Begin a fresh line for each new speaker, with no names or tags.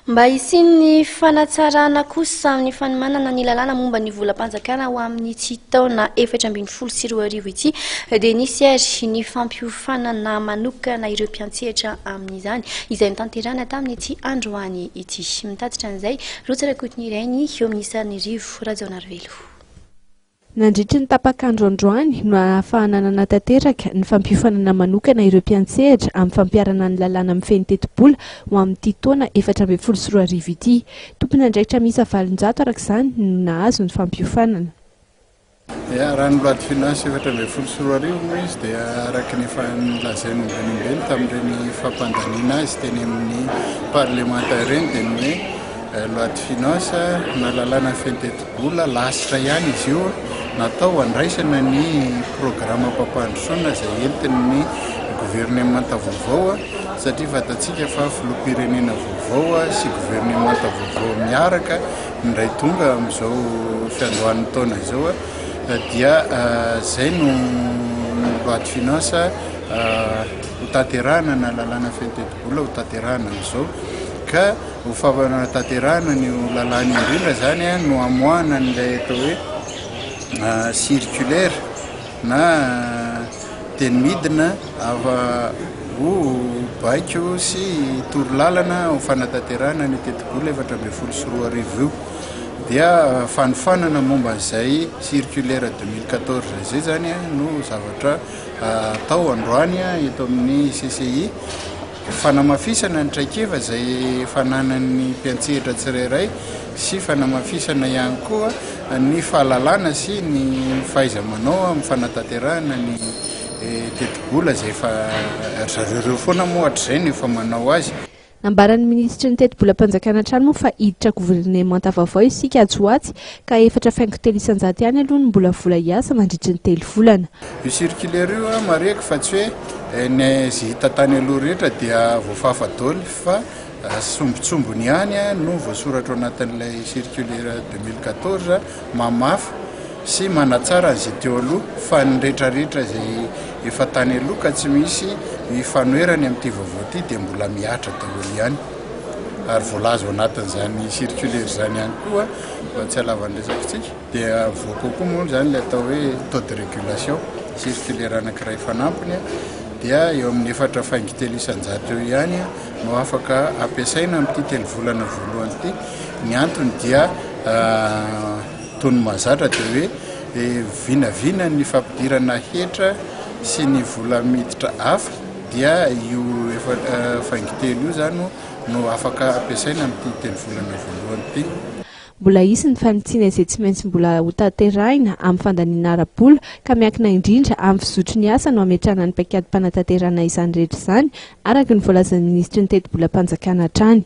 Mba hisian'ny fanatsarana kosa amin'ny fanomanana ny lalàna momba ny volam-panjakana ho amin'ity taona efatra ambin'ny folo sy roa arivo ity dia nisy ary ny fampiofanana manokana ireo mpiantsehatra amin'izany izay notanterahana tamin'ity androany ity. Mitatitra an'izay, Rotsy Rakotonirainy, Minisitry ny Rivo, Rajaonarivelo.
Nandritry ny tapak'andro androany no ahafahana nanatanteraka ny fampiofanana manokana ireo mpiantsehatra amin'ny fampiharana ny lalàna mifehy ny tetibola ho amin'ity taona efatra ambin'ny folo sy roa arivo ity. Tompon'andraikitra miisa valonjato araka izany no nahazo ny fampiofanana.
Dia raha ny loi de finances efatra ambin'ny folo sy roa arivo moa izy dia araka ny efa nolazain'ny Andriambenintany tamin'ireny fampandaniana azy teny amin'ny parlemanta ireny dia ny hoe Loi de finance na lalàna feno tetibola lasitra ihany izy io natao handraisana ny programam-pampandrosoana izay entin'ny governemanta vaovao satria fantatsika fa filoham-pirenena vaovao sy governemanta vaovao miaraka indray tonga amin'izao fiandohan'ny taona izao dia izay no loi de finance hotanterahana na lalàna feno tetibola hotanterahana amin'izao ka ho fanatanterahana an'io lalàna io indrindra izany no hamoahana an'ilay atao hoe circulaire na teny midina ava ho baiko sy toro lalana ho fanatanterahana ny tetibola efatra ambin'ny folo sy roa arivo io dia fanofanana momba an'izay circulaire deux mille quatorze izay izany no zavatra atao androany eto amin'ny CCI Fanamafisana ny traikefa izay fananan'ny mpiantsehatra tsirairay sy fanamafisana ihany koa ny fahalalana sy ny fahaiza-manao amin'ny fanatanterahana ny tetibola izay efa ry zareo ireo foana moa hatrizay no efa manao azy. Nambaran'ny minisitry
ny tetibolam-panjakana hatrany moa fa hiditra governemanta vaovao isika atsy ho atsy ka efatra faingo telo isan-jato ihany aloha no mbola vola hiasa mandritry ny telo volana. Io circulaire
io an, marihiko fa tsy hoe ny izay hita tany aloha rehetra dia voafafa daholo fa sombintsombiny ihany no voasoratra ao anatin'ilay circulaire deux mille quatorze mamafy sy manatsara an'izay teo aloha fa ny retraretra izay efa tany aloha ka tsy misy ifanoherany amin'ity vaovao ity dia mbola mihatra daholo ihany ary voalaza ao anatin'izany circulaire izany ihany koa Mba tsy halava ny resakitsika dia avoa kokoa moa izany ilay atao hoe taux de régulation circulaire anankiray fanampiny dia eo amin'ny efatra faingo telo isan-jato eo ihany no afaka ampiasaina amin'ity telo volana voalohany ity. Ny antony dia toy ny mahazatra dia hoe eh, vinavina ny fampidirana hetra sy ny vola miditra hafa dia io efa eh, faingo telo io izany no afaka ampiasaina amin'ity tenivolana voalohany ity. Mbola hisy
ny fanitsiana izay tsy maintsy mbola hotanterahina amin'ny fandaniana ara-bola ka miankina indrindra amin'ny fizotry ny asa no hametrahana ny paikadim-panatanterahana izany rehetra izany, araka ny voalazan'ny minisitry ny tetibolam-panjakana hatrany.